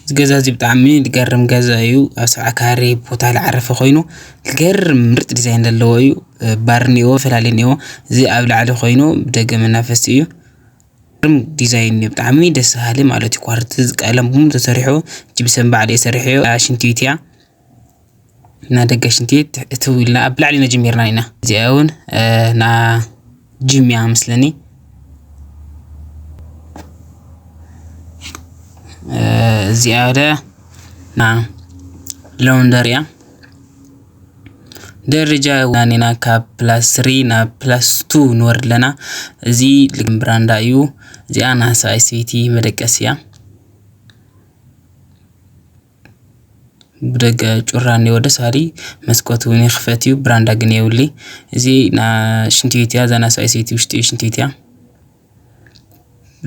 እዚ ገዛ እዚ ብጣዕሚ ዝገርም ገዛ እዩ ኣብ ሰብዓ ካሬ ቦታ ዝዓረፈ ኮይኑ ዝገርም ምርጥ ዲዛይን ዘለዎ እዩ ባር እኒአዎ ፈላለየ እኒአዎ እዚ ኣብ ላዕሊ ኮይኑ ብደገ መናፈሲ እዩ ዝገርም ዲዛይን እዩ ብጣዕሚ ደስ በሃሊ ማለት እዩ ኳርትዝ ቀለም እውን ተሰሪሑ ጅብሰን ባዕለይ ሰሪሐዮ እታ ሽንቲ ቤት እያ። ና ደገ ሽንቲ ቤት እትው ኢልና ኣብ ላዕሊ ነጅሚርና ኢና እዚኣ እውን ና ጅም እያ መስለኒ እዚኣ ወደ ና ሎንደር እያ ደረጃ ናኒና ካብ ፕላስ ስሪ ናብ ፕላስ ቱ ንወርድ ኣለና እዚ ልግም ብራንዳ እዩ እዚኣ ናሳ ስዊቲ መደቀስ እያ ብደገ ጩራ እኒኦ ደስ በሃሊ መስኮት እውን ይኽፈት እዩ ብራንዳ ግን የብሉይ እዚ ናይ ሽንቲ ቤት እያ እዛ ናይ ሰብኣይ ሰበይቲ ውሽጢ ሽንቲ ቤት እያ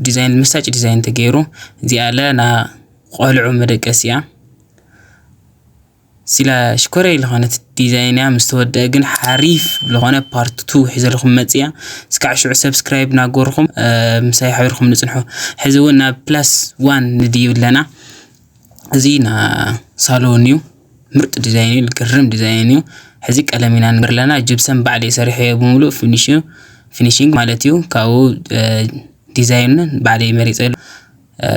ዲዛይን መሳጭ ዲዛይን ተገይሩ እዚኣ ለ ናይ ቆልዑ መደቀሲ እያ ስላ ሽኮረይ ዝኾነት ዲዛይን እያ ምስ ተወድአ ግን ሓሪፍ ዝኾነ ፓርት ቱ ሒዘልኩም መፅያ እስካዕ ሽዑ ሰብስክራይብ ናገርኹም ምሳይ ሓቢርኩም ንፅንሑ ሕዚ እውን ናብ ፕላስ ዋን ንድይብ ኣለና እዚ ና ሳሎን እዩ ምርጥ ዲዛይን እዩ ግርም ዲዛይን እዩ ሕዚ ቀለም ኢና ንግር ኣለና ጅብሰን ባዕል የሰርሐ እዮ ብምሉእ ፊኒሽንግ ማለት እዩ ካብኡ ዲዛይንን ባዕል መሪፀ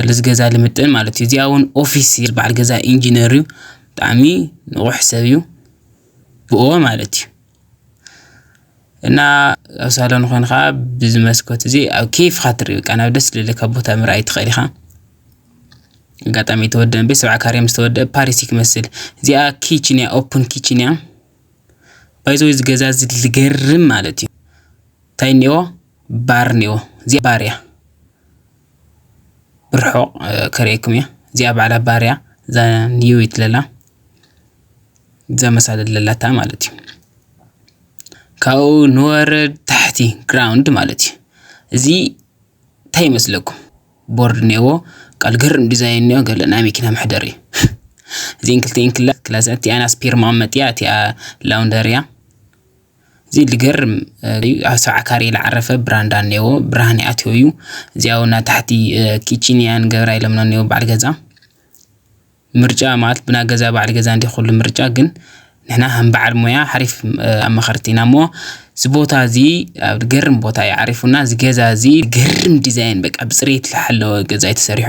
ልዝገዛ ልምጥን ማለት እዩ እዚኣ እውን ኦፊስ በዓል ገዛ ኢንጂነር እዩ ብጣዕሚ ንቑሕ ሰብ እዩ ብእዎ ማለት እዩ እና ኣብ ሳሎን ኾንኻ ብዚ መስኮት እዚ ኣብ ኬፍኻ ትርኢ በቃ ናብ ደስ ዝብለካ ቦታ ምርኣይ ትኽእል ኢኻ ኣጋጣሚ ተወደአ ቤት ሰብዓ ካሬ ምስ ተወደአ ፓሪሲ ክመስል እዚኣ ኪችን እያ ኦፕን ኪችን እያ ባይዘወ እዚ ገዛ እዚ ዝገርም ማለት እዩ እንታይ እኒኦ ባር እኒኦ እዚኣ ባር እያ ብርሑቕ ከርእየኩም እያ እዚኣ ባዕላ ባር እያ እዛ ንየዊት ለላ ዘመሳለ ለላታ ማለት እዩ ካብኡ ንወረድ ታሕቲ ግራውንድ ማለት እዩ እዚ እንታይ ይመስለኩም ቦርድ እኒአዎ ቃል ግርም ዲዛይን እኒኦ ገለ ናይ መኪና መሕደሪ እዩ እዚን ክልቲኤን ክላ ክላስ እቲኣ ናይ ስፔር መቐመጢ እያ እቲኣ ላውንደር እያ እዚ ልገርም ኣብ ሰብዓ ካሬ ዝዓረፈ ብራንዳ እኒአዎ ብርሃን ይኣትዮ እዩ እዚኣ እውን ኣብ ታሕቲ ኪችን እያ ንገብራ ኢሎምና እኒኦ በዓል ገዛ ምርጫ ማለት ብና ገዛ ባዕል ገዛ እንዲ ኩሉ ምርጫ ግን ንሕና ከም በዓል ሞያ ሓሪፍ ኣማኸርቲ ኢና እሞ እዚ ቦታ እዚ ኣብ ገርም ቦታ እዩ ዓሪፉና እዚ ገዛ እዚ ገርም ዲዛይን በቃ ብፅሬት ዝሓለወ ገዛ እዩ ተሰሪሑ